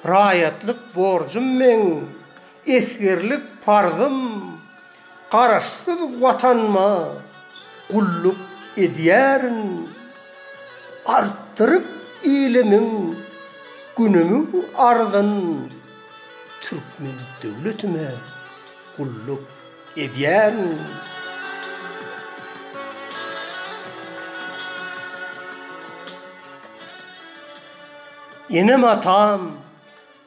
Raýatlyk borjum meň, esgerlik parzym, Garaşsyz Watanyma gulluk edýärin. Artdyryp ilimiň günümiň arzyn, Türkmen döwletime gulluk edýärin. Enem-atam,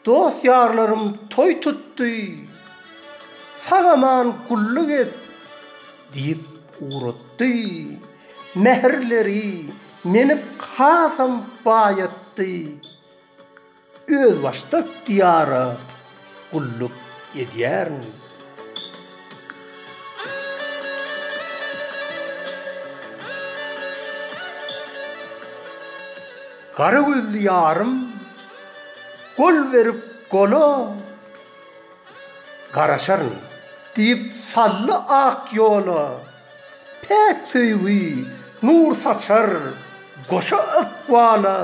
dost-ýarlarym toý tutdy, sag-aman gulluk et! diýip ugratdy. Mähirleri meni hasam baýatdy. Özbaşdak Diýara gulluk edýärin. Gara gözli ýarym Gol berip gola garaşaryn. Diýip saldy ak ýola Päk söýgi nur saçar goşa ykbala.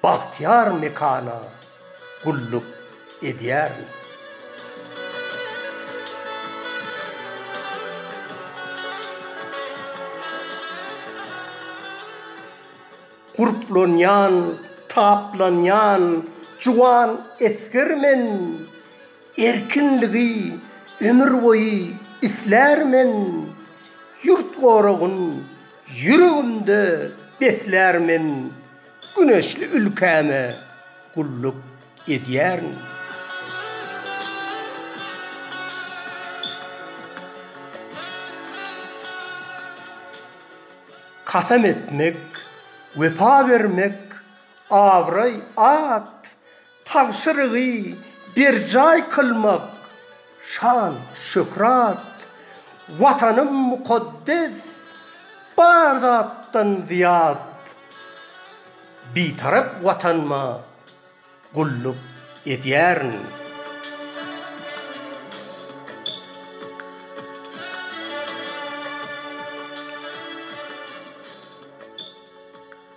Bagtyýar mekana gulluk edýärmi? Gurplanýan, taplanýan juwan esger men, Erkinligi ömürboýy islär men, Ýurt goragyn Ýüregimde beslär men güneşli ülkäme gulluk edýärin. Kasam etmek, wepa bermek, abraý, at, Tabşyrygy berjaý kylmak şan-şöhrat, Watanym mukaddes, bar zatdan zyýat. Bitarap Watanyma gulluk edýärin.